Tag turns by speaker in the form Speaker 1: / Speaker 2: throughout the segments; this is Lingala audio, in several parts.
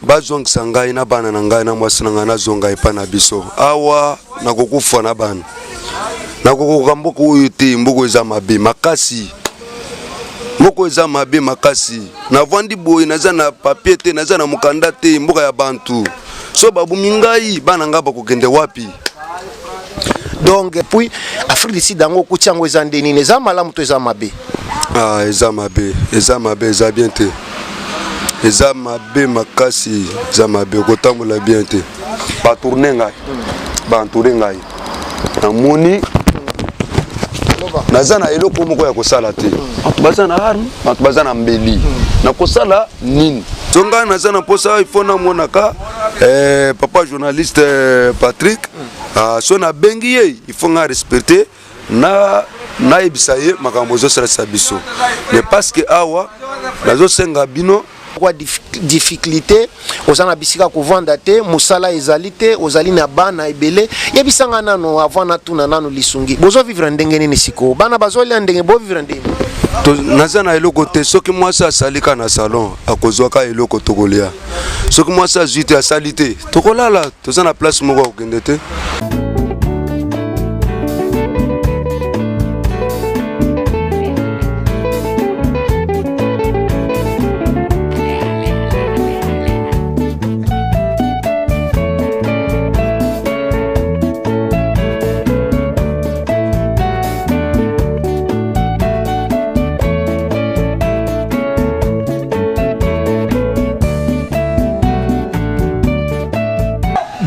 Speaker 1: bazongisa ngai na bana na ngai na mwasi na ngai nazonga epai na biso awa nakokufa na bana nakokoka mboka oyo te mboka eza mabe makasi mboka eza mabe makasi navandi boye naza na papie te naza na mokanda te mboka ya bantu so babumi ngai bana ngai bakokende wapi
Speaker 2: donc puis afrique du sud yango okuti yango eza nde nini eza malamu to eza mabe ah, eza
Speaker 1: mabe eza mabe eza bien te eza mabe makasi eza mabe okotambola bien te batourne ngai bantoure ngai namoni naza na eloko moko ya kosala te bato baza na arme bato baza na mbeli nakosala nini so ngai naza na mposa ifo namonaka eh, papa journaliste eh, patrick ah, so nabengi ye ifo ngai respecte na nayebisa ye makambo ozosalisa biso mais parce que awa nazosenga bino kwa
Speaker 2: difficulté oza na bisika kovanda te mosala ezali te ozali na bana ebele yebisa nga nano avant natuna nano lisungi bozo vivre ndenge nini sikoyo bana bazolia ndenge bo vivre ndenge naza na
Speaker 1: eloko te soki mwasi asali ka na salon akozwa ka eloko tokolia soki mwasi azwi te asali te tokolala toza na place moko ya kokende te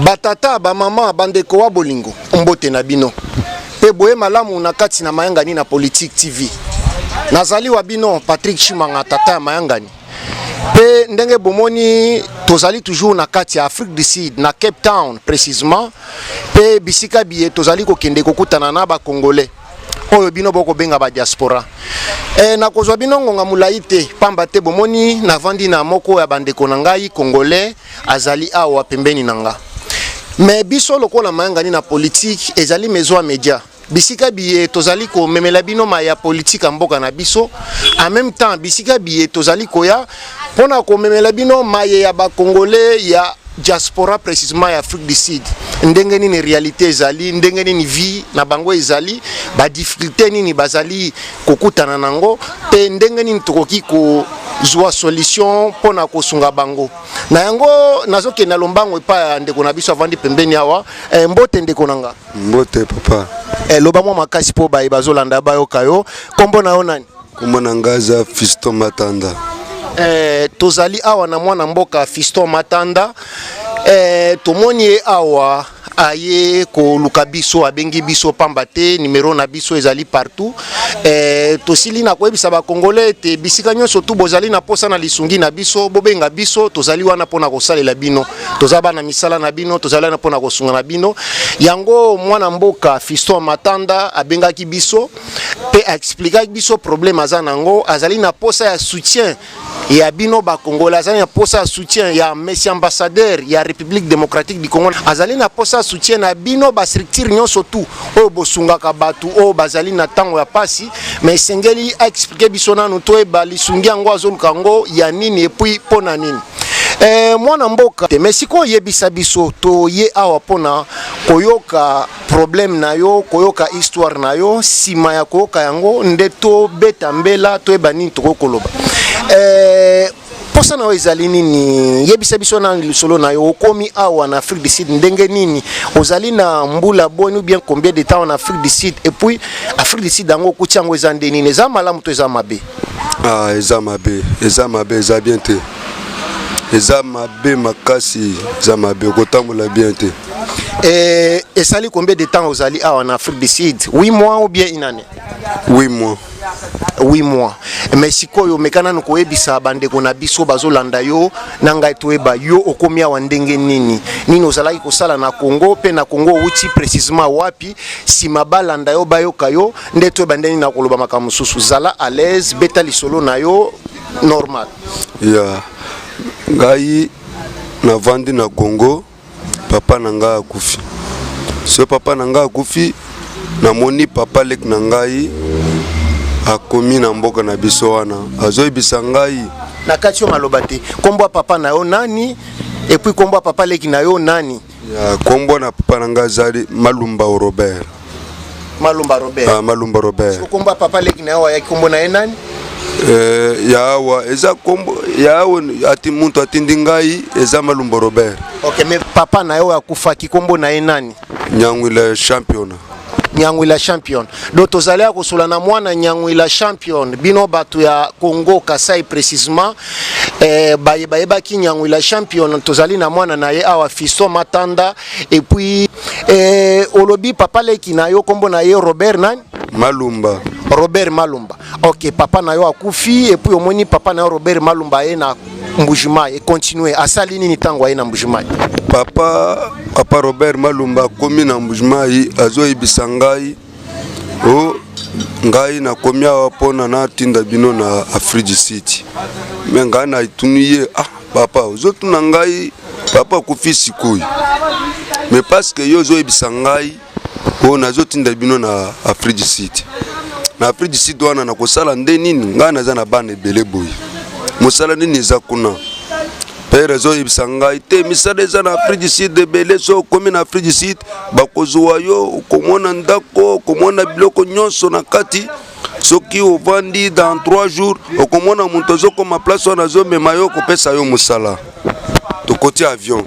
Speaker 2: batata bamama bandeko wa bolingo mbote na bino mpe boye malamu na kati na mayangani na politique tv nazali wa bino patrick chimanga tata ya mayangani mpe ndenge bomoni tozali toujours na kati ya afrique du sud na cape town précisement mpe bisika biye tozali kokende kokutana na bacongolais oyo bino bokobenga badiaspora e, eh, nakozwa bino ngonga molai te mpamba te bomoni navandi na moko ya bandeko na ngai congolais azali awa pembeni na nga me biso lokola mayangani na politike ezali maison ya media bisika biye tozali komemela bino ma ya politike ya mboka na biso en même temps bisika biye tozali koya mpo na komemela bino maye ya bakongole ya diaspora précisément ya afrique du sud ndenge nini réalité ezali ndenge nini vie na bango ezali badifficulté nini bazali kokutana na yango mpe ndenge nini tokoki ko zwa solution mpo na kosunga bango na yango nazokende na lombango epai ya ndeko na biso avandi pembeni awa eh, mbote ndeko na nga Mbote papa.
Speaker 1: Eh, loba mwa makasi
Speaker 2: mpo baye bazolanda bayoka yo. Kombo na yo nani? Kombo na ngai aza
Speaker 1: Fiston Matanda. Eh,
Speaker 2: tozali awa na mwana mboka Fiston Matanda. Eh, tomoni ye awa aye koluka biso abengi biso pamba te numero na biso ezali partout eh, tosili na koyebisa bakongole ete bisika nyonso tu bozali na mposa na lisungi na biso bobenga biso tozali wana mpo na kosalela bino toza bana misala na bino tozali na mpona kosunga na bino yango mwana mboka fiston matanda abengaki biso mpe aexplikaki biso problème aza na yango azali na mposa ya soutien ya bino bakongole azali na mposa ya soutien ya messi ambassadeur ya république démocratique du congo azali na mposa ya soutien na bino bastructure nyonso tout oyo bosungaka bato oyo bazali na ntango ya mpasi mais esengeli aexplike biso nanu toyeba lisungi yango azoluka yango ya nini epuis mpo na nini Eh, mwana mboka te mais sikoyo yebisa biso toye awa mpona koyoka problème na yo koyoka histoire na yo nsima ya koyoka yango nde tobeta mbela toyeba nini tokoki koloba eh, mposa na yo ezali nini yebisa biso na lisolo na yo okomi awa na afrique du sud ndenge nini ozali na mbula boni ou bien combien de temps na afrique du sud et puis afrique du sud yango okuti yango eza nde nini eza malamu to eza mabe Ah, eza
Speaker 1: mabe, eza mabe, eza bien te. Eza mabe makasi, eza mabe, okotambola bien te. Et,
Speaker 2: et ça lui combien de temps aux alliés ah, en Afrique du Sud 8 mois ou bien une année 8
Speaker 1: mois. 8 mois.
Speaker 2: Mais sikoyo mekana no koyebisa bandeko na biso bazolanda yo na ngai toyeba yo okomi awa ndenge nini nini ozalaki kosala na Congo mpe na Congo outi précisément wapi nsima balanda yo bayoka yo nde to ebande nini nakoloba makambo mosusu zala à l'aise beta lisolo na yo normal ya yeah.
Speaker 1: ngai navandi na congo papa na ngai akufi so papa na ngai akufi namoni papa leki na ngai akomi na mboka na biso wana
Speaker 2: azoyebisa ngai na kati
Speaker 1: yo
Speaker 2: maloba te
Speaker 1: nkombo
Speaker 2: ya papa na yo nani epuis nkombo ya papa leki na yo nani Ya kombo na
Speaker 1: papa na nga azali Malumba Robert. Malumba
Speaker 2: Robert. Ah, Malumba Robert. Siko
Speaker 1: kombo ya papa leki na
Speaker 2: yo ayaki kombo na ye nani? Eh, ya
Speaker 1: awa eza kombo ya awa ati mutu atindi ngai eza Malumba Robert. Okay, mais papa
Speaker 2: na yo akufaki kombo na ye nani? Nyangwila
Speaker 1: championa. Nyangwila
Speaker 2: champion do tozali ya kosola na mwana Nyangwila champion bino bato ya Congo Kasai precisement eh, baye bayebaki Nyangwila champion tozali na mwana na ye awa Fiston Matanda et puis eh, olobi papa leki na yo kombo na ye Robert nani Malumba
Speaker 1: Robert Malumba
Speaker 2: ok papa na yo akufi et puis omoni papa na yo Robert Malumba ye na Mbujimayi continue asali nini tango aye na Mbujimayi papa
Speaker 1: papa Robert Malumba akomi na Mbujimayi azoyebisa ngai o oh, ngai nakomi awa mpona natinda bino na Afrique du Sud me ngai natuni ye ah papa ozotuna ngai papa akufi sikoyo me paske yo ozoyebisa ngai oyo nazotinda bino na afrique du sud na afrique du sud wana nakosala nde nini ngai naza na bana ebele boye mosala nini eza kuna pere azoyebisa ngai te misala eza na afrique du sud ebele so okomi na afrique du sud bakozwa yo okomona ndako okomona biloko nyonso na kati soki ovandi dans 3 jours okomona moto azokoma place wana azomema yo kopesa yo mosala tokoti avion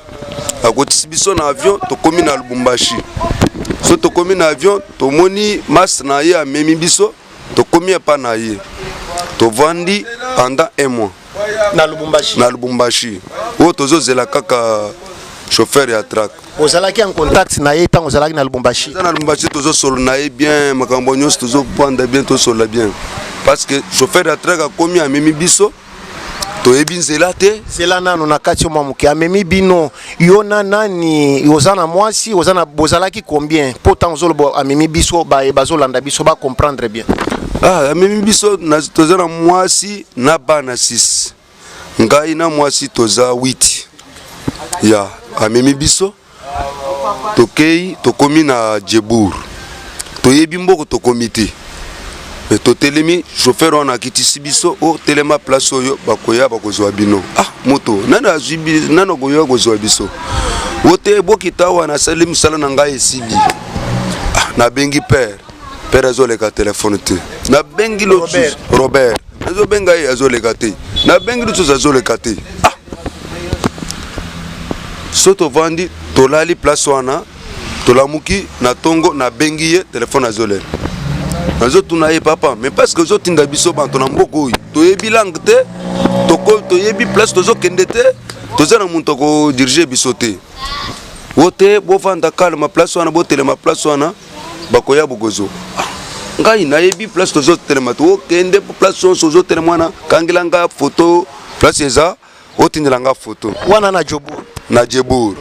Speaker 1: akotisi biso na avion tokomi na lubumbashi so tokomi na avion tomoni mas na ye amemi biso tokomi epa na ye tovandi pendant un mois na lubumbashi
Speaker 2: na lubumbashi
Speaker 1: oyo tozozela kaka chauffeur ya track ozalaki en contact
Speaker 2: na ye ntango ozalaki na lubumbashi na lubumbashi tozosolo
Speaker 1: na ye bien makambo nyonso tozopanda bien tosolola bien parce que chauffeur ya track akomi amemi biso toyebi nzela te nzela nano na kati yo
Speaker 2: mwa moke amemi bino yo na nani oza na mwasi oza na bozalaki combien mpo ntango ozoloba amemi biso baye bazolanda biso ba comprendre bien ah, amemi biso
Speaker 1: toza na mwasi na bana 6 ngai na mwasi toza 8 ya amemi biso tokei tokomi na jebour toyebi mboko tokomi te me totelemi chauffeur wana akitisi biso o oh, telema place oyo bakoya bakozwa bino ah moto nani azwi nani akoya kozwa biso o te bokita awa nasali mosala na ngai esili ah, nabengi père père azoleka telefone te nabengi losus robert nazobenga ye azoleka te nabengi losus azoleka te ah so tovandi tolali place wana tolamuki na ntongo nabengi ye telefone azolela nazotuna ye papa mais parce que ozotinda biso bato na mboka oyo toyebi langue te toyebi place tozokende te toza na moto akodirige biso te wo te bovanda kalma place wana botelema place wana bakoya bokozo ngai nayebi place tozotelema te okende place nyonso ozotelema wana kangela ngai foto place eza otindela nga foto wana na jobour
Speaker 2: na jebour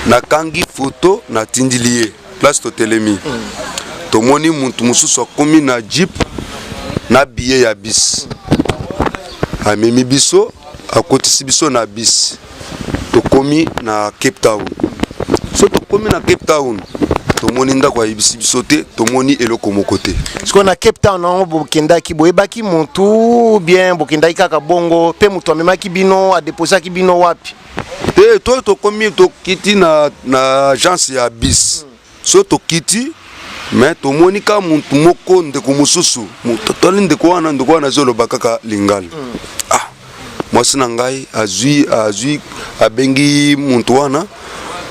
Speaker 1: nakangi foto natindili ye place totelemi tomoni mutu mosusu akomi na jeep na biye ya bis amemi biso akotisi biso na bis tokomi na cape town so tokomi na cape town tomoni ndako ayebisi biso te tomoni eloko moko te sikoyo na cape town
Speaker 2: yango bokendaki boyebaki motu bien bokendaki kaka bongo mpe moto amemaki bino adeposaki bino wapi te to
Speaker 1: tokomi tokiti na, na agence ya bis mm. so tokiti me tomoni ka motu moko ndeko mosusu totali ndeko wana ndeko wana azoloba kaka lingala mm. mwasi na ngai azwi azwi abengi muntu wana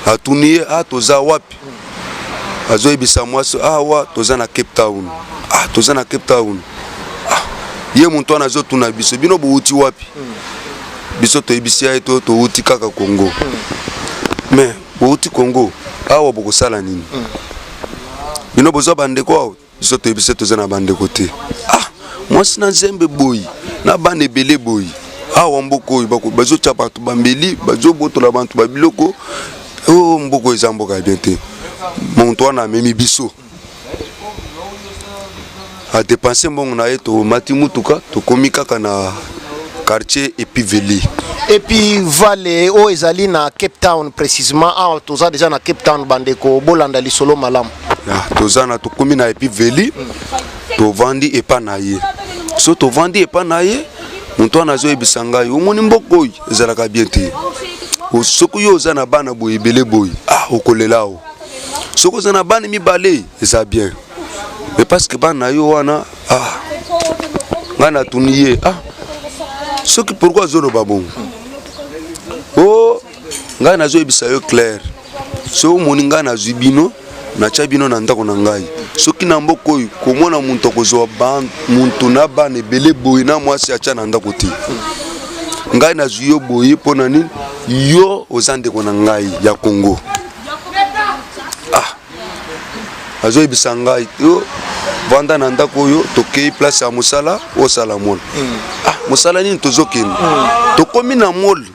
Speaker 1: atuni ye ah, toza wapi azoyebisa mwasi awa ah, toza na cape town ah, toza na cape town ah, ye muntu wana azotuna biso bino bowuti wapi biso toyebisi ya ye to towuti kaka congo me bowuti congo awa bokosala nini bino boza bandeko awa biso toyebi se toza na bandeko te ah mwasi na nzembe boyi na bana ebele boyi awa mboka oyo bazotya bato bambeli bazobotola bato babiloko o oh, mboka eza mboka ya bien te moto wana amemi biso adepanse mbongo na ye tomati motuka tokomi kaka na quartier epiveli epuis
Speaker 2: vale oyo ezali na cape town précisement awa toza deja na cape town bandeko bolanda lisolo malamu toza na
Speaker 1: tokomi na epi veli tovandi epa na ye so tovandi epa na ye moto wana azoyebisa ngai omoni mboka oyo ezalaka bien te soki yo oza na bana boye ebele boye ah, okolela o soki oza na bana mibale eza bien me parceke bana na yo wana ah, ngai natuni ye ah, soki pourkui azoloba bongo o oh, ngai nazoyebisa yo claire soki omoni ngai nazwi bino natya bino na ndako na ngai soki na mboka oyo komona moto akozwa moto na bana ebele boye na mwasi atya na ndako te ngai nazwi yo boye mpo na nini yo oza ndeko na ngai ya kongo ah azoyebisa ngai yo vanda na ndako oyo tokei place ya mosala osala mona hmm. ah mosala nini tozokende hmm. tokomi na mole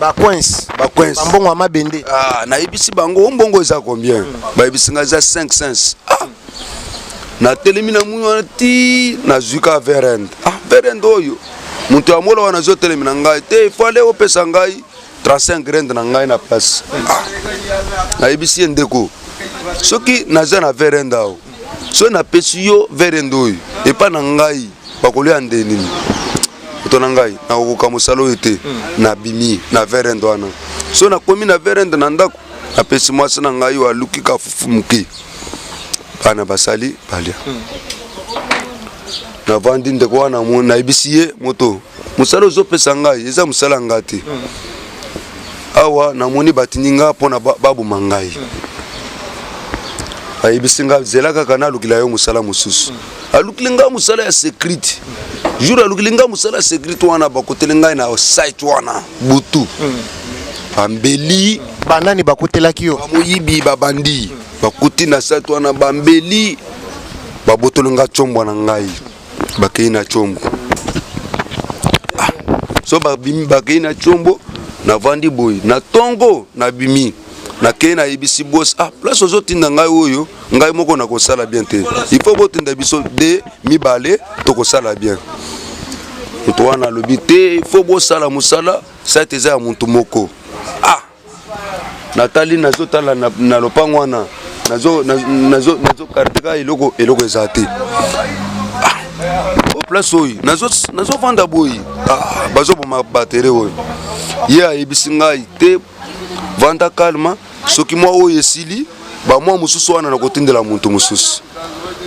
Speaker 1: ba coins
Speaker 2: ba coins mbongo ya mabende ah nayebisi
Speaker 1: bango mbongo eza combien mm. bayebisi nga eza 5 cents ah natelemi na muni wana ti nazwi ka verend ah verend oyo moto ya mola wana azotelemi na ngai te ifale opesa ngai 35 grande na ngai na place ah. nayebisi ye ndeko soki naza na verend ao soki napesi yo vere ndoyi epai na ngai bakolia nde nini moto na ngai nakokoka mosala oyo te hmm. nabimi na verende wana so nakomi na verende na ndako napesi mwasi na ngai oyo aluki kafufu moke bana basali balia hmm. navandi ndeko wana nayebisi ye moto mosala ozopesa ngai eza mosala ya ngai te awa namoni batindi ngai mpo na baboma ngai ayebisi ngai zela kaka nalukila yo mosala mosusu alukili ngai mosala ya securite jour alukili ngai mosala ya securite wana bakoteli ngai na site wana butu bambeli banani
Speaker 2: bakutelaki yo bamoyibi babandi
Speaker 1: bakuti na site wana bambeli babotoli ngai combwa na ngai bakei na combo ah, so babimi bakei na combo navandi boye na tongo nabimi nakei nayebisi bos ah place ozotinda ngai oyo ngai moko nakosala bien te il faut botinda biso de mibale tokosala bien moto wana alobi te il faut bosala mosala site eza ya motu moko ah natali nazotala na, na lopango wana nazokarteka eloko eloko eza te ah, place oyo nazofanda boye ah, bazoboma batere oyo ye yeah, ayebisi ngai te vanda kalma soki mwa oyo esili bamwa mosusu wana nakotindela moto mosusu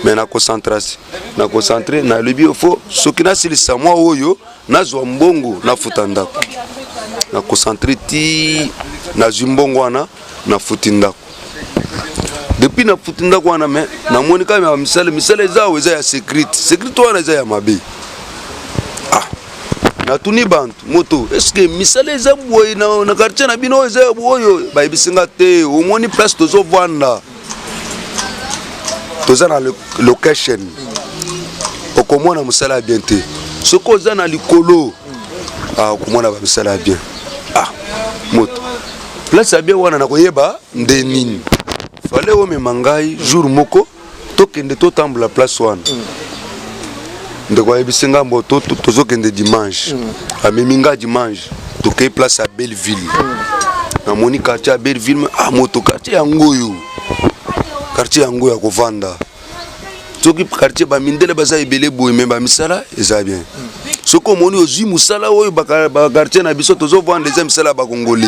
Speaker 1: me na concentrasi na concentre nalobi ofo soki nasilisa mwa oyo nazwa mbongo nafuta ndako na concentre ti nazwi mbongo wana nafuti ndako depuis nafuti ndako wana me namoni kaka ya misala misala eza awa eza ya securite securite wana eza ya mabe ah, natuni bantu moto eske misala eza boye na, na quartier na bino eza ya boye bayebisi nga te omoni place tozovanda toza na location okomona mosala ya bien te soki oza na likolo ah, okomona bamisala ya bien ah, moto place ya bien wana nakoyeba nde nini fale omema ngai jour moko tokende totambola place wana mm. ndeko ayebisi nga mbo tozokende dimanche mm. amemi nga dimanche tokei place ya belleville mm. namoni quartier ya belleville ah, moto quartier yango oyo quartier yango ya kovanda soki quartier bamindele baza ebele boye me bamisala eza bien mm. soki omoni ozwi mosala oyo bakartier na biso tozovanda eza misala ya bakongole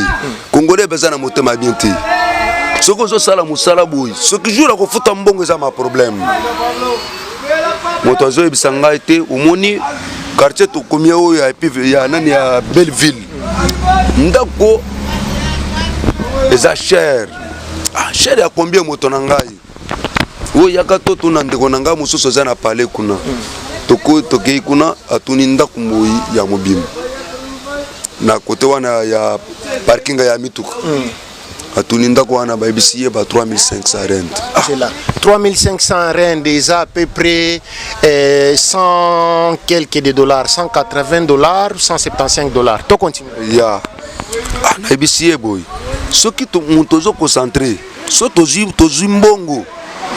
Speaker 1: kongole baza na motema bien te soki ozosala mosala boye soki jour akofuta mbongo eza ma problème moto azoyebisa ngai te omoni quartier tokomi oyo ya epive ya nani ya belleville ndako eza cher ah, cher ya combien moto na ngai oyo yaka to tuna ndeko na ngai mosusu eza na pale kuna tokei kuna atuni ndako moyi ya mobimba na kote wana ya parkinga ya mituka mm. atuni ndako wana bayebisi ye ba 3500 rand
Speaker 2: ah. 3500 rand eza à peu près eh, 100 quelques de dollars 180 dollars 175 dollars to
Speaker 1: continue
Speaker 2: ya yeah. ah, nayebisi
Speaker 1: ye boye soki moto ozo concentre so tozwi mbongo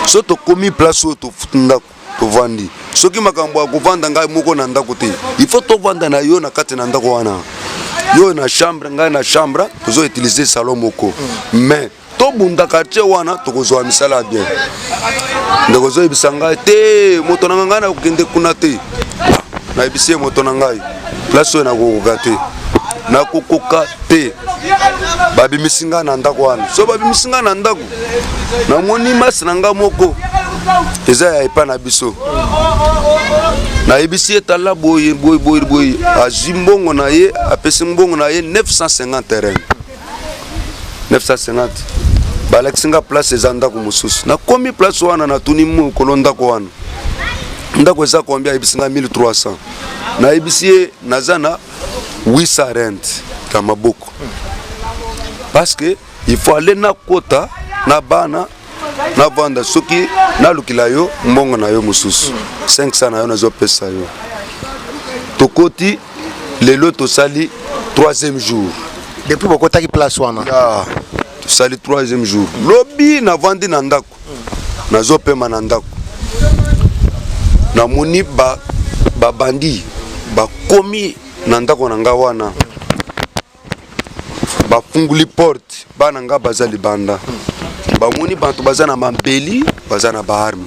Speaker 1: so tokomi place oyo tofuti ndako tovandi soki makambo ya kovanda ngai moko na ndako te il faut tovanda na yo na kati na ndako wana yo na chambre ngai na chambre tozo utiliser salon moko mais tobunda quartier wana tokozwa misala ya bien ndeko ozoyebisa ngai te moto na ngai ngai nakokende kuna te nayebisi ye moto na ngai place oyo nakokoka te nakokoka te babimisi ngai na ndako wana so babimisi ngai na ndako namoni masi na ngai moko eza ya epai na biso nayebisi ye tala boye boye boye boye azwi mbongo na ye apesi mbongo na ye 950 terrain 950 balakisi nga place eza ndako mosusu nakomi place wana natuni mokolo ndako wana ndako eza kombia ayebisi nga 1300 nayebisi ye naza na 800 rent na maboko parce que il faut aller nakota na bana navanda soki nalukila yo mbongo na yo mosusu 500 na yo nazopesa yo tokoti lelo tosali troisième jour depuis bokotaki
Speaker 2: place wana tosali
Speaker 1: troisième jour lobi navandi na ndako ndako nazopema na ndako namoni babandi ba bakomi na ndako na ngai wana bafunguli porte bana ngai baza libanda bamoni bato baza na mabeli baza na baarme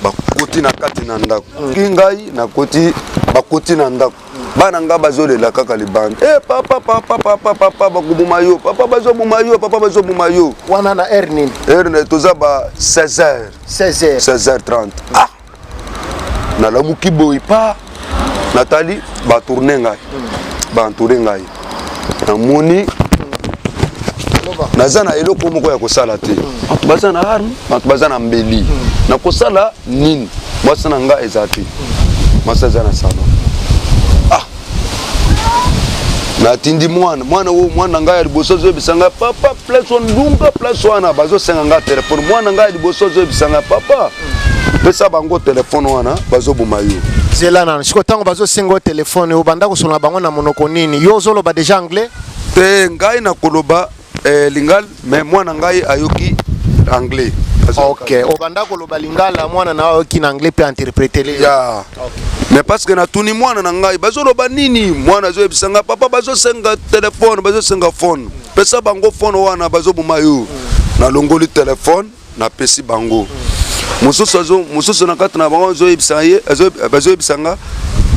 Speaker 1: bakoti na kati na ndako ngai nakoti bakoti na ndako bana nga bazolela kaka libanda e eh, papa papa papa papa bakoboma yo papa bazoboma yo papa bazoboma yo wana na heure nini
Speaker 2: heure na toza ba
Speaker 1: 16 heures 16 heures 16 heures 30 ah nalamuki boye pa natali batourne ngai hmm. baentoure ngai namoni naza na eloko moko ya kosala te bato baza na arme bato baza na mbeli na kosala nini mwasi na ngai eza te mwasi aza na salon ah natindi mwana mwana oyo mwana na ngai ya liboso azoyebisa ngai papa place ondunga place wana bazosenga ngai telefone mwana na ngai ya liboso azoyebisa ngai papa pesa bango telefone wana bazoboma yo zela nano sikoyo ntango
Speaker 2: bazosenga yo telefone obanda kosolola bango na monoko nini yo ozoloba deja anglais te ngai
Speaker 1: nakoloba eh, lingala me mwana ngai ayoki anglais ok
Speaker 2: obanda koloba lingala mwana na ayoki na anglais mpe interpretele ya mais
Speaker 1: parce que natuni mwana na ngai bazoloba nini mwana azoyebisa ngai papa bazosenga telefone bazosenga fone pesa bango fone wana bazoboma yo nalongoli telefone napesi bango mosusu mosusu na kati na bango azoyebisa ye bazoyebisa nga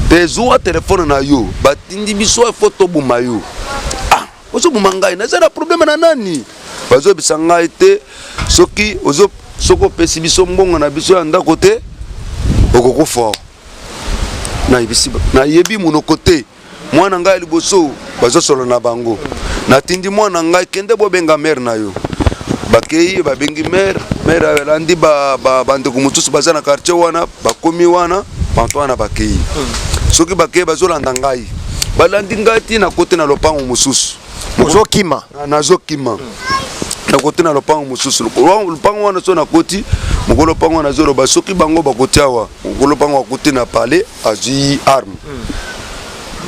Speaker 1: te zuwa telefone na yo batindi biso efo toboma yo ah, ozoboma ngai naza na probleme na nani bazoyebisa ngai te soki soki opesi biso mbongo na biso ya ndako te okokufa nayebi monoko te mwana ngai ya liboso bazosolo na bango natindi mwana ngai kende bobenga mere na yo bakei babengi mere mere alandi bandeko mosusu baza na quartier wana bakomi wana bantu wana bakei soki bakei bazolanda ngai balandi ngai ti na kote na lopango mosusu ozokima
Speaker 2: nazokima
Speaker 1: nakoti na lopango mosusu lopango wana so nakoti mokolo lopango wana azoloba soki bango bakoti awa mokolo lopango akuti na palais azwi arme mm.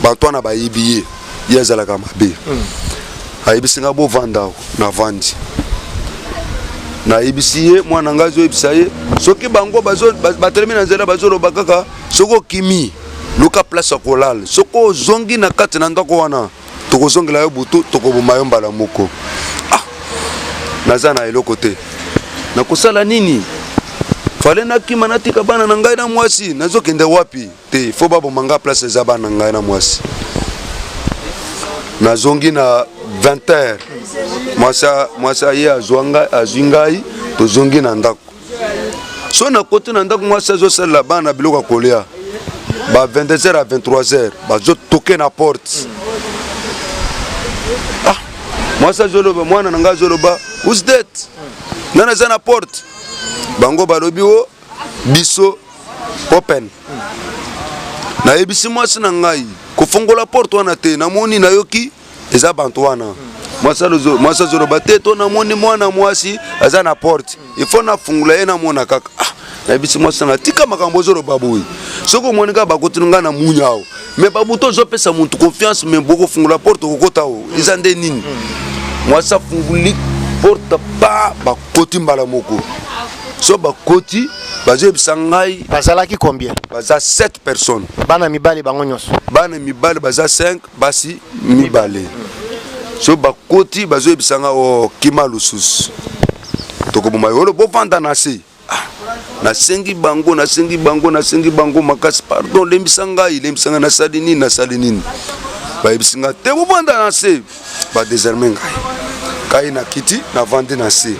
Speaker 1: bato wana bayebi ye ye azalaka mabe mm. ayebisi ngai bovanda navandi nayebisi ye mwana ngai azoyebisa ye soki bango batelemi na nzela bazoloba kaka soki okimi luka place ya kolala soki ozongi na kati na ndako wana tokozongela yo butu tokoboma yo mbala moko ah, naza na eloko te nakosala nini fale nakima natika bana na ngai na mwasi nazokende wapi te fo baboma ngai place eza bana na ngai na mwasi nazongi na 20 heures mwasi ye azwi ngai tozongi na ndako so na koti na ndako mwasi azosalela bana biloko ya kolia ba 22h à 23h bazotoke na porte ah mwasi azoloba mwana na ngai azoloba who's that nani aza na porte bango balobi o biso open nayebisi mwasi na ngai kofongola porte wana te namoni nayoki eza bantu wana mwasi azoloba te to namoni mwana mwasi aza na porte ifo nafungula ye namona kaka ah, nayebisi mwasi nanga tika makambo ozoloba boye soki omoni kaka bakotino ngai na munya awo me babuta ozopesa muntu confiance me bokofungola porte okokota o eza nde nini mwasi afunguli porte pa bakoti mbala moko so bakoti bazoyebisa ngai bazalaki combien
Speaker 2: baza 7
Speaker 1: personnes bana mibali bango
Speaker 2: nyonso bana mibali baza
Speaker 1: 5 basi mibale so bakoti bazoyebisa nga oh, kima lususu tokoboma yolo bovanda na se ah, nasengi bango nasengi bango nasengi bango makasi pardon lembisa ngai lembisa ngai nasali nini nasali nini bayebisi ngai te bovanda na se badeserme ngai kai na kiti navandi na se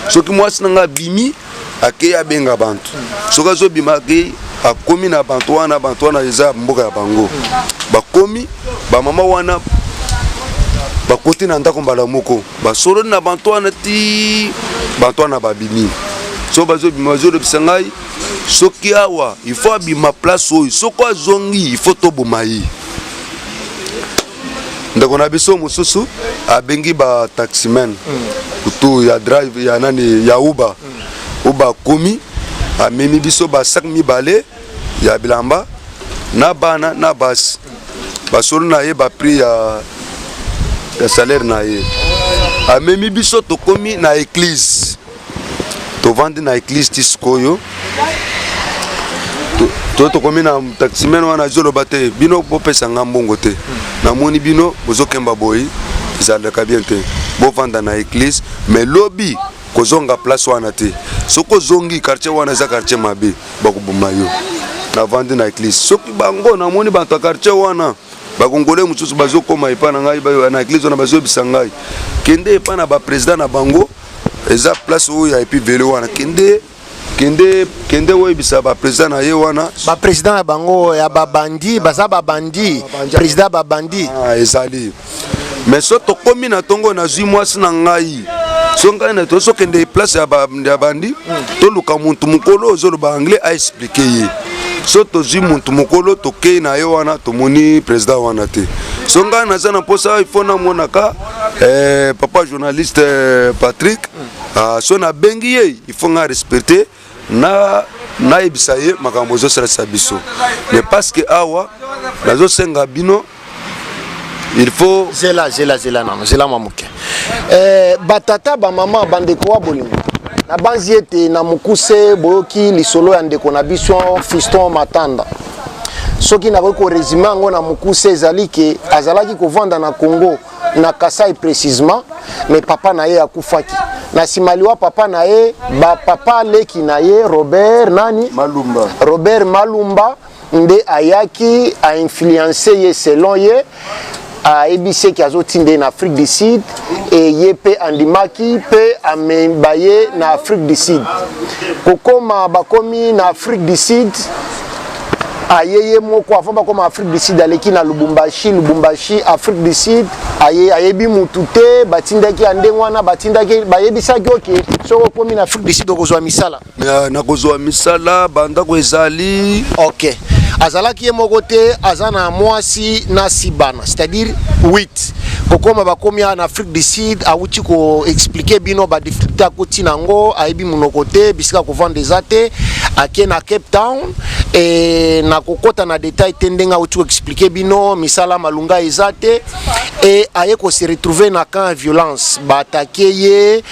Speaker 1: soki mwasi na ngai abimi akei abenga bantu soki azobima akei akomi na bantu wana bantu wana eza mboka ya bango bakomi bamama wana bakoti na ndako mbala moko basololi na bantu wana ti bantu wana babimi so bazobima bazolobisa ngai soki awa il faut abima place oyo soki azongi il faut toboma ye ndeko na biso mosusu abengi ba taximen mm. kutu ya drive ya nani ya uba mm. uba akomi amemi biso ba sac mibale ya bilamba na bana na basi basolo na ye baprix ya, ya salaire na ye amemi biso tokomi na eglise tovandi na eglise ti sikoyo to tokomi na taximene wana ezoloba te bino bopesa nga mbongo te namoni bino bozokemba boyi ezalaka bien te bovanda na eglise mais lobi kozonga place wana te soki ozongi quartier wana eza quartier mabe bakoboma yo navandi na eglise soki bango namoni bato ya quartier wana bakongole mosusu bazokoma epai na ngai na eglise wana bazoyebisa ngai kende epai na bapresident na bango eza place oyo ya epi velo wana kende kende kende oyebisa baprésident na ye wana baprésident ya bango
Speaker 2: ya babandi baza babandi président babandi ah, ezali
Speaker 1: mais so tokomi na ntongo nazwi mwasi na ngai so ngai na tozokende place ya bandi hmm. toluka motu mokolo ozoloba anglais aexplike ye so tozwi motu mokolo tokei na ye wana tomoni président wana te so ngai naza na mposa ifo namonaka Eh, papa journaliste eh, Patrick mm. ah, so nabengi ye il faut nga respecter na nayebisa ye makambo ezosalisa biso mais parce que awa nazosenga bino il faut zela zela zela nano
Speaker 2: zela mwa moke eh, batata bamama bandeko wa bolingo nabanzi ete na mokuse boyoki lisolo ya ndeko na biso fiston matanda soki nakoki koresume yango na mokuse ezali ke azalaki kovanda na congo na kasai précisement mais papa na ye akufaki na nsima liwa papa na ye bapapa leki na ye robert nani malumba. robert malumba nde ayaki ainfluence ye selon ye ayebisi eke azotinda ye na afrique du sud eye mpe andimaki mpe ameba ye na afrique du sud kokoma bakomi na afrique du sud aye ye moko avant bakoma afrique du sud aleki na lubumbashi lubumbashi afrique du sud aye ayebi mutu te batindaki ya ndenge wana batindaki bayebisaki oke soki okomi na afrique du sud okozwa misala na, na kozwa
Speaker 1: misala bandako ezali ok
Speaker 2: azalaki ye moko te aza na mwasi na sibana c'est-à-dire 8 kokoma bakomi na afrique du sud awuti koexplike bino badifficulté akoti na yango ayebi monoko te bisika kovanda eza te ake na cape town e na kokɔta na detail te ndenge awuti koexplike bino misala malunga eza te e aye kose retrouve na camp ya violence baatake ye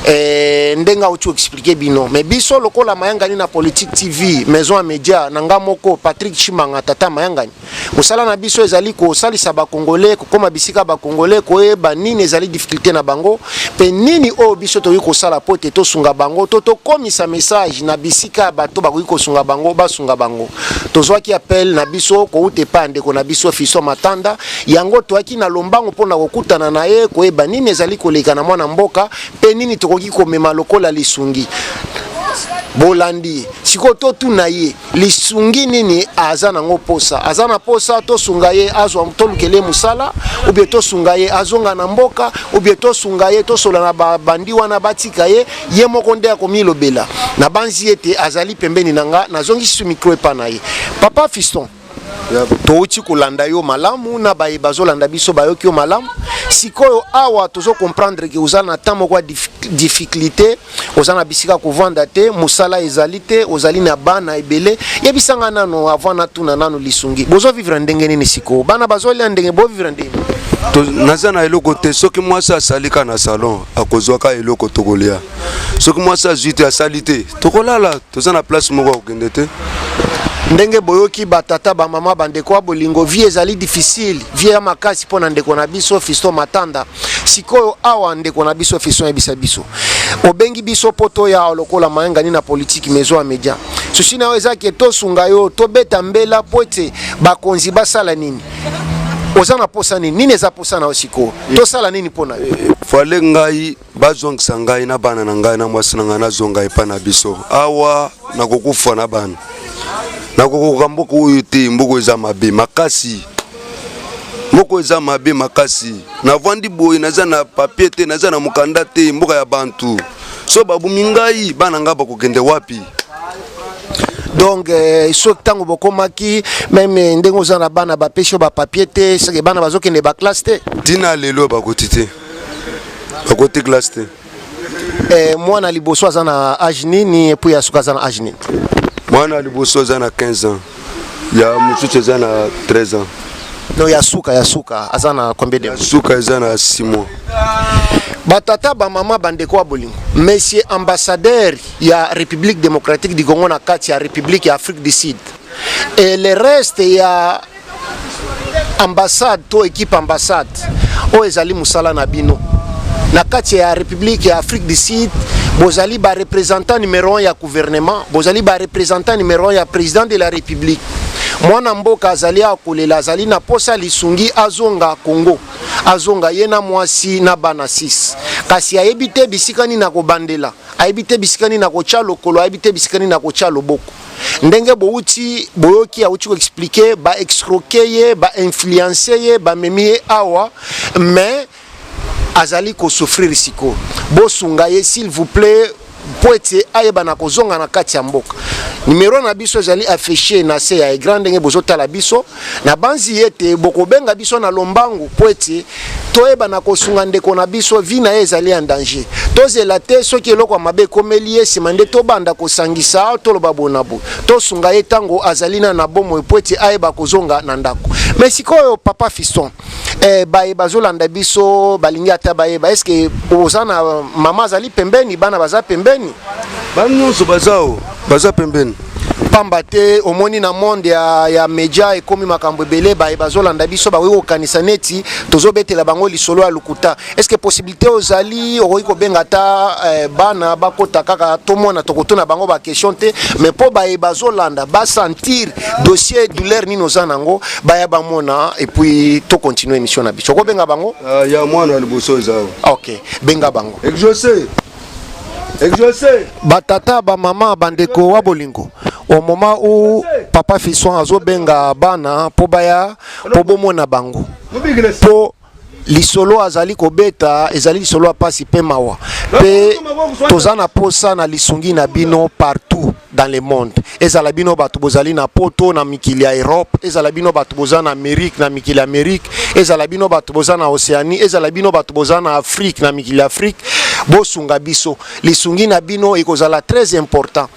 Speaker 2: eh, ndenge auti expliquer bino mais biso lokola mayangani na politique tv maison ya media na nga moko patrick chimanga tata mayangani mosala na biso ezali kosalisa bakongole kokoma bisika bakongole koyeba nini ezali difficulté na bango mpe nini oyo biso tokoki kosala mpo te tosunga bango to tokomisa message na bisika ya bato bakoki kosunga bango basunga bango tozwaki appel na biso kouta epai ya ndeko na biso fiso matanda Yango toyaki na lombango mpo na kokutana na ye, koyeba nini ezali koleka na mwana mboka mpe nini tokoki komema lokola lisungi. Bolandi ye sikoyo, totuna ye lisungi nini aza nango mposa. Aza na mposa tosunga ye azwa, tolukele mosala ubie tosunga ye azonga na mboka ubie tosunga ye tosola na babandi wana batika ye. Ye moko nde akomilobela. Nabanzi ete azali pembeni na nga, nazongisi mikro epa na ye. Papa Fiston. touti kolanda yo malamu na baye bazolanda biso bayoki yo malamu sikoyo awa tozo comprendre ke oza na temps moko ya difficulté oza na bisika kovanda te mosala ezali te ozali na bana ebele yebisa ngai nano avant natuna nano lisungi bozo vivre ndenge nini sikoyo bana bazolia ndenge bovivre ndenge naza na
Speaker 1: eloko te soki mwasi asalika na salon akozwaka eloko tokolia soki mwasi azwi te asali te tokolala toza na place moko ya kokende te ndenge
Speaker 2: boyoki batata bamama bandeko ya bolingo vie ezali difficile vie ya makasi mpo na ndeko na biso fisto matanda sikoyo awa ndeko na biso fisto yebisa biso obengi biso mpo toya lokola mayangani na politiki mezo ya media susi na yo eza ke tosunga yo tobeta mbela mpo ete bakonzi basala nini oza na posa nini nini eza posa na yo sikoyo tosala nini mpo na yo eh, fale ngai
Speaker 1: bazongisa ngai na bana na ngai na mwasi na ngai nazonga epai na biso awa nakokufa na bana nakokoka mboka oyo te mboka eza mabe makasi mboka eza mabe makasi navandi boye naza na papie te naza na mokanda te mboka ya bantu so babumi ngai bana ngai bakokende wapi
Speaker 2: donc euh, soki ntango bokomaki meme euh, ndenge oza na bana bapesi yo bapapie te soki bana bazokende baklasse te ntina lelo bakoti
Speaker 1: te bakoti classe te eh,
Speaker 2: mwana liboso aza na age nini epuis ya suka aza na age nini mwana liboso
Speaker 1: aza na 15 ans ya mosusu eza na 13 ans no ya suka
Speaker 2: ya suka aza na combien de suka eza na 6 mois batata bamama bandeko ya bolingo monsieur ambassadeur ya république démocratique du congo na kati ya république ya afrique du sud et le reste ya ambassade to équipe ambassade oyo ezali mosala na bino na kati ya république ya afrique du sud bozali ba représentant numéro 1 ya gouvernement bozali ba représentant numéro 1 ya président de la république mwana mboka azali akolela azali na posa lisungi azonga congo azonga ye na mwasi na bana 6 kasi ayebi te bisika nini akobandela ayebi te bisika nini akotya lokolo ayebi te bisika nini akotya loboko ndenge bowuti boyoki awuti koexplike baexcroke ye bainfluence ye bamemi ye awa mais azali kosouffrir sikoyo bosunga ye s'il vous plaît mpo ete ayebana kozonga na kati ya mboka numero na biso ezali affiche na se ya egran ndenge bozotala biso Nabanzi ete bokobenga biso na lombangu mpo ete toyeba na kosunga ndeko na biso, vi na ye ezali ya danger. Tozela te soki eloko ya mabe ekomeli ye nsima nde tobanda kosangisa, toloba boye na boye. Tosunga ye ntango azali na na bomoi mpo ete ayeba kozonga na ndako. Mais sikoyo papa Fiston, eh, baye bazolanda biso balingi ata bayeba eske oza na mama azali pembeni bana baza pembeni bana nyonso
Speaker 1: baza o baza pembeni pamba te
Speaker 2: omoni na monde ya, ya media ekomi makambo ebele baye bazolanda biso bakoki kokanisa neti tozobetela bango lisolo ya lokuta eske possibilité te ozali okoki kobenga ata eh, bana bakota kaka tomona tokotuna bango baquestion te mais mpo baye bazolanda basentir dossier douleur nini oza nango baya bamona epuis tocontinue émission na biso okobenga bango uh, ya mwana liboso
Speaker 1: eza ok benga
Speaker 2: bango exauce
Speaker 1: exauce
Speaker 2: batata bamama bandeko wa bolingo au moment où papa fison azobenga bana mpo baya mpo bomona bango mpo lisolo azali kobeta ezali lisolo ya mpasi mpe mawa mpe toza na mposa na lisungi na bino partout dans le monde ezala bino bato bozali na poto na mikili ya europe ezala bino bato boza na amérique na mikili ya amérique ezala bino bato boza na océanie ezala bino bato boza na afrique na mikili ya afrique bosunga biso lisungi na bino ekozala très important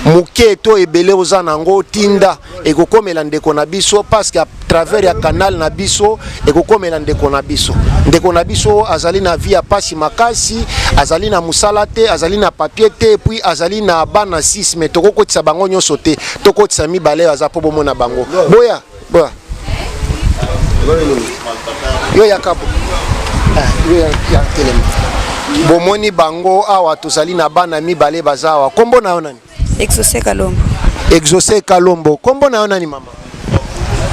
Speaker 2: moke to ebele oza na yango tinda ekokomela ndeko na biso paske a travers ya canal na biso ekokomela ndeko na biso ndeko na biso azali na vie ya pasi makasi azali na mosala te azali na papier te puis azali na bana 6 mais tokokotisa bango nyonso te tokotisa mibale aza mpo bomona bango boya boya yo ya kabo ah, yo ya telema bomoni bango awa tozali na bana mibale baza awa nkombo na yo nani Exauce Kalombo. Exauce Kalombo. Kombo na yo nani mama?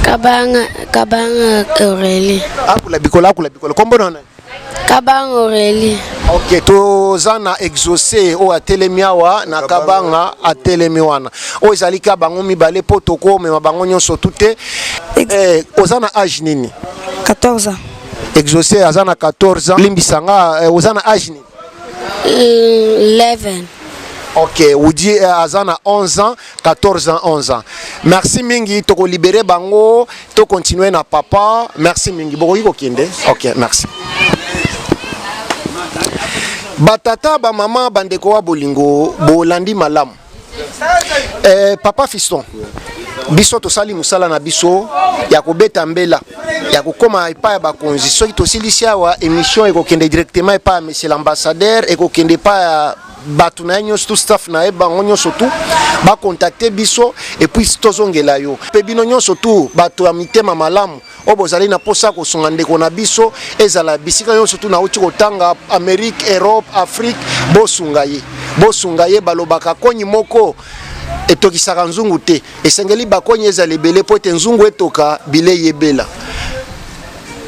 Speaker 2: Kabanga
Speaker 3: Kabanga Aurélie. Akula bikola akula
Speaker 2: bikola. Kombo na yo nani? Kabanga
Speaker 3: Aurélie. Ok, toza
Speaker 2: na exauce oyo atelemi awa na Kabanga atelemi wana. Oyo ezali ka bango mibale po tokomema bango nyonso tute. Eh, oza na age nini? 14
Speaker 3: ans. Exauce aza na
Speaker 2: 14 ans. Limbisa nga eh, oza na age nini? 11. Ok, Woody eh, aza na 11 ans, 14 ans, 11 ans. Merci mingi, toko libérer bango, to continuer na papa. Merci mingi. Bokoki kokende. Ok, merci. Batata, ba maman, bandeko wa bolingo, bolandi malamu. Eh, papa Fiston, biso tosali musala na biso ya kobeta mbela ya kokoma epai ya bakonzi soki tosilisi awa émission ekokende directement epai ya monsieur l'ambassadeur ekokende epai ya bato na ye nyonso tout staff na ye bango nyonso tu bakontakte biso epuis tozongela yo mpe bino nyonso tu bato ya mitema malamu oyo bozali na mposa ya kosunga ndeko na biso ezala bisika nyonso tu nauti kotanga amerike europe afrique bosunga ye bosunga ye balobaka konyi moko etokisaka nzungu te esengeli bakonyi ezala ebele mpo ete nzungu etoka bilei ebela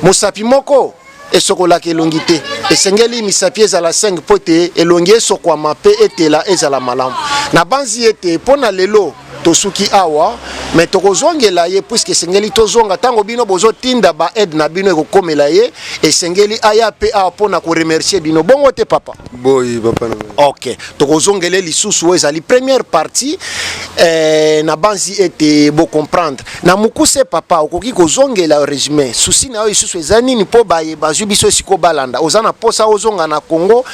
Speaker 2: mosapi moko esokolaka elongi te esengeli misapi ezala 5 mpo ete elongi esokwama mpe etela ezala malamu nabanzi ete mpo na lelo tosuki awa me tokozongela ye puiske esengeli tozonga ntango bino bozotinda ba aide na bino ekokomela ye esengeli aya mpe awa mpo na koremercie bino bongo te papa boyi papa
Speaker 1: ok tokozongele
Speaker 2: lisusu oyo ezali première partie eh, nabanzi ete bocomprendre Na mukuse papa okoki kozongela regime souci na yo lisusu eza nini po baye bazwi biso esiko balanda oza na posa ozonga na congo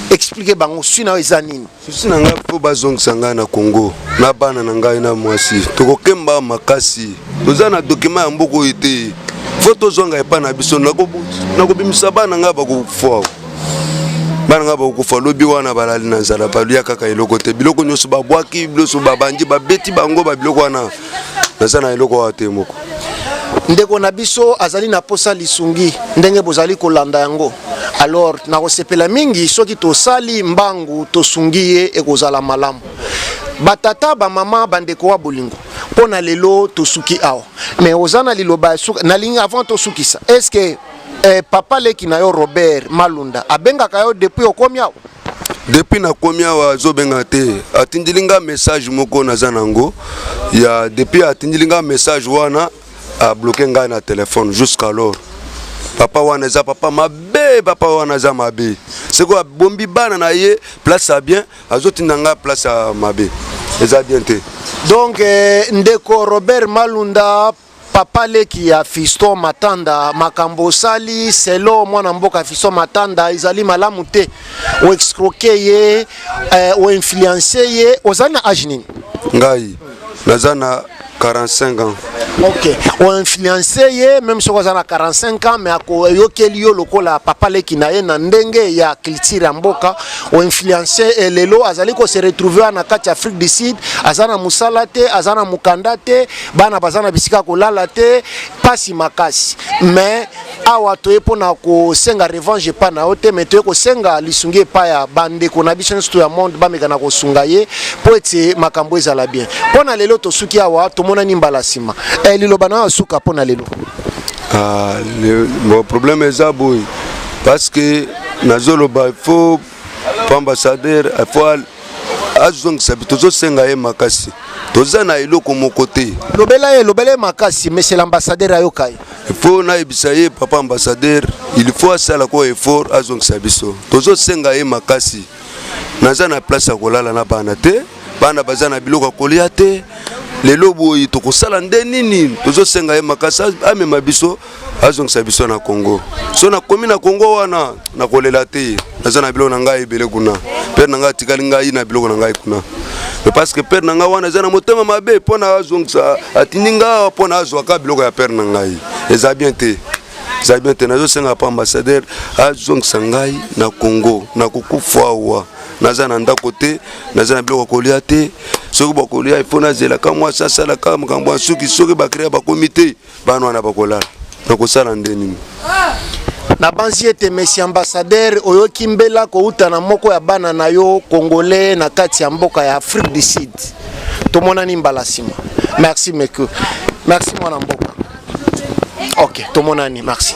Speaker 2: explique bango souci na yo eza nini. Souci na ngai po
Speaker 1: bazongisa ngai na congo na bana na ngai na mwasi tokokemba makasi toza na document ya mboka oyo te fo tozonga epai na biso nakobimisa bana ngai bakokufa bana ngai bakokufa lobi wana balali na nzala balia kaka eloko te biloko nyonso babwaki biloso babandi babeti bango babiloko wana naza na eloko awa te moko ndeko na
Speaker 2: biso azali na posa lisungi ndenge bozali kolanda yango alors nakosepela mingi soki tosali mbangu tosungi ye ekozala malamu batata bamama bandeko wa bolingo mpo na lelo tosuki awa mais oza na liloba ya suka nalingi avant tosukisa estce Eh, papa leki na yo Robert Malunda abengaka yo depuis okomi awa depuis nakomi
Speaker 1: awa azobengaka te atindili nga message moko naza nango ya depuis atindili nga message wana abloke ngai na telefone jusqu'alors papa wana eza papa mabe papa wana aza mabe seko abombi bana na ye place ya bien azotinda ngai place ya mabe eza bien te donc eh,
Speaker 2: ndeko robert malunda papa leki ya fiston matanda makambo osali selo mwana mboka fiston matanda ezali malamu te oexcroke ye eh, oinfluence ye ozali na age nini ngai
Speaker 1: naza na 45 ans ok
Speaker 2: oinfluence ye meme soki aza na 45 ans mais akoyokeli yo lokola papa leki na ye na ndenge ya culture ya mboka oinfluence e lelo azali kose retrouve na kati ya afrique du sud aza na mosala te aza na mokanda te bana baza na bisika kolala te pasi makasi mais awa toye mpo na kosenga revanche epai na yo te mais toye kosenga lisungi epai ya bandeko na biso nyonso to ya monde bameka na kosunga ye mpo ete makambo ezala bien mpo na lelo tosuki awa tomonani mbala nsima e, liloba na yo asuka mpo na lelo ah, le,
Speaker 1: bon, problème eza boye parce que nazoloba fo po ambassadeur fo azongisa tozosenga ye makasi toza na eloko moko te lobela ye lobela ye
Speaker 2: makasi monsieur l'ambassadeur ayoka ye fo nayebisa
Speaker 1: ye papa ambassadeur il faut asala ko effort azongisa biso tozosenga ye makasi naza na place ya kolala na bana te bana baza na biloko ya kolia te lelo boye tokosala nde nini tozosenga ye makasi amema biso azongisa biso na congo so nakomi na congo wana nakolela te naza na biloko na ngai ebele kuna pere na ngai atikali ngai na biloko na ngai kuna parce que pere na ngai wana eza na motema mabe mpo na azongisa atindi ngai mpo na azwaka biloko ya pere na ngai eza bien te eza bien te nazosenga pa ambassadeur azongisa ngai na congo nakokufa awa naza na ndako te naza na biloko ya kolia te soki bakolia ifo nazelaka mwasi asalaka makambo ya suki soki bakrea bakomi te bana wana bakolala nakosala nde nini
Speaker 2: nabanzi ete mesi ambassadeur oyoki mbela kouta na moko ya bana na yo congolais na kati ya mboka ya afrique du sud tomonani mbala nsima merci meku merci mwana mboka ok tomonani merci